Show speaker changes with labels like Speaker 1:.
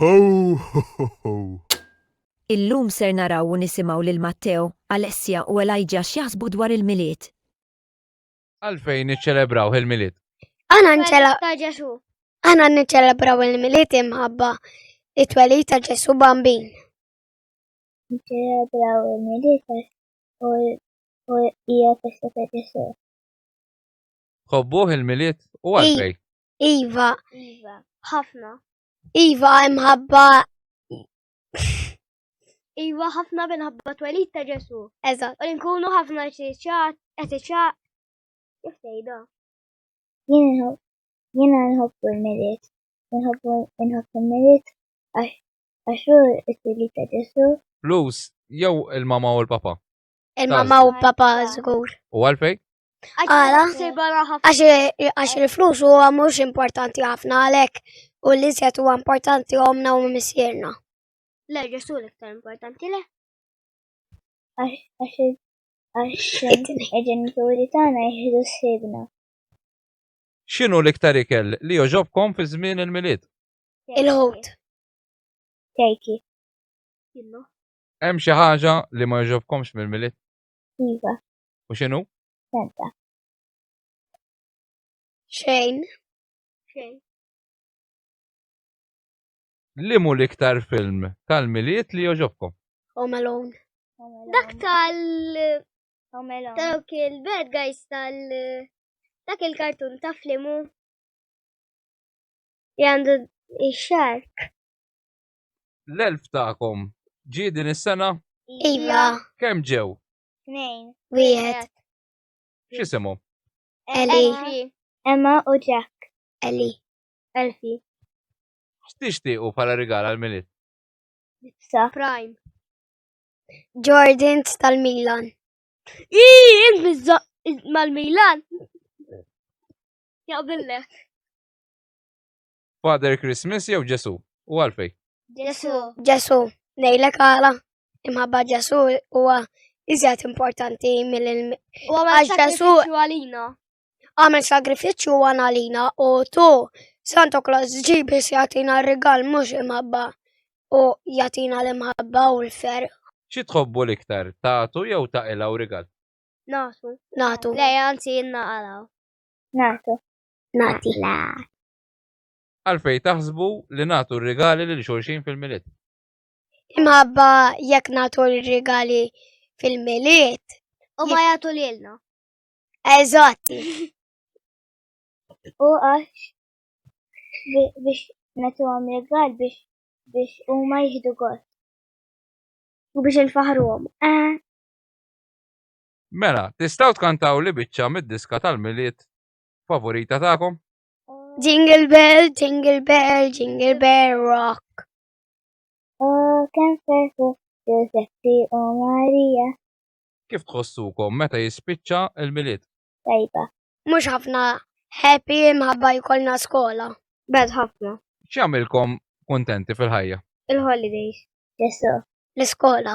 Speaker 1: Ho ho ho ho! Illum
Speaker 2: ser naraw u nisimgħu lil Matteo, Alessia u Elijah x'jaħsbu dwar il-Milied.
Speaker 3: Għalfejn niċċelebraw il-Milied? Aħna nċela Ta' Ġesù.
Speaker 4: aħna niċċelebraw il-Milied imħabba it-twelid ta' Ġesù Bambin. Nċelebraw
Speaker 5: il-Milied għax u u hija festa
Speaker 3: ta' Ġesù. Ħobbuh il-Milied u għalfejn? Iva. Iva.
Speaker 5: Ħafna. Iva
Speaker 4: imħabba.
Speaker 5: Iva ħafna minħabba twelid ta' Ġesu. Eżatt. U nkunu
Speaker 4: ħafna
Speaker 5: ċiċat, ċiċat. Kif tgħidha? Jiena nħobbu l-miliet. Nħobbu nħobbu l-miliet għax hu t-twelid ta' Ġesu. Flus
Speaker 3: jew il-mama u l-papa? Il-mamma u
Speaker 4: papa żgur. U għalfej?
Speaker 3: Għala,
Speaker 4: għax il-flus u mhux importanti ħafna għalek u li zjat u importanti għomna u misjerna. Le, ġesu
Speaker 5: l-iktar importanti le. Għax il-ġenituri tagħna jieħdu sibna.
Speaker 3: X'inhu l-iktar ikel li joġobkom fi żmien il-milied? Il-ħut.
Speaker 5: Kejki. Kinnu.
Speaker 3: Hemm xi ħaġa li ma jogħġobkomx mill-Milied? Iva.
Speaker 5: U x'inhu?
Speaker 3: Senta.
Speaker 4: Xejn. Xejn.
Speaker 3: Li mu l-iktar film tal-Milied li jogħġobkom? Home Alone.
Speaker 4: Dak
Speaker 5: tal Home Alone. Dawk il-bad guys tal dak il-kartun ta' flimu. Jandu ix-xark.
Speaker 3: L-elf tagħkom ġie din is-sena? Iva.
Speaker 4: Kemm ġew?
Speaker 3: Tnejn.
Speaker 5: Wieħed.
Speaker 4: X'isemu?
Speaker 3: Eli.
Speaker 4: Emma u
Speaker 5: Jack. Eli.
Speaker 4: Elfi.
Speaker 3: X'tixtiequ bħala rigal għall-milied? Sa.
Speaker 5: Prime. Jordans
Speaker 4: tal-Milan. Ii, int mizzaq
Speaker 5: mal-Milan. Jaqbillek.
Speaker 3: Father Christmas jew Ġesu? U għalfej? Ġesu. Ġesu.
Speaker 4: Nejlek għala. Imħabba Ġesu huwa iżjed importanti mill U għamel
Speaker 5: sagrifiċċju għalina. Għamel
Speaker 4: sagrifiċċju għalina u tu Santo Claus ġibi jagħtina r-rigal mhux imħabba u jatina l-imħabba u l-fer. Xi tħobbu
Speaker 3: l-iktar, tatu jew ta' ila u rigal? Natu.
Speaker 4: Natu. Le, anzi,
Speaker 5: naqalaw. Natu. nagħti l-għar.
Speaker 3: Għalfejn taħsbu li nagħtu r-rigali lil xulxin fil-milied?
Speaker 4: Imħabba jekk nagħtu r-rigali fil-milied. U ma jagħtu
Speaker 5: lilna. Eżatti. U għax biex natu għam regal biex biex u ma jihdu għot. U biex il-fahru għom. Eh.
Speaker 3: Mela, tistaw tkantaw li bieċa mid-diska tal-miliet favorita tagħkom. Jingle
Speaker 4: bell, jingle bell, jingle bell rock.
Speaker 5: Oh, kemm ferħu Giuseppe u Maria. Kif
Speaker 3: tħossukom meta jispiċċa il-milied? Tajba.
Speaker 5: Mhux ħafna
Speaker 4: happy imħabba jkollna skola. Bad ħafna.
Speaker 5: X'jagħmilkom kontenti fil-ħajja? Il-holidays. Jessu.
Speaker 3: L-iskola.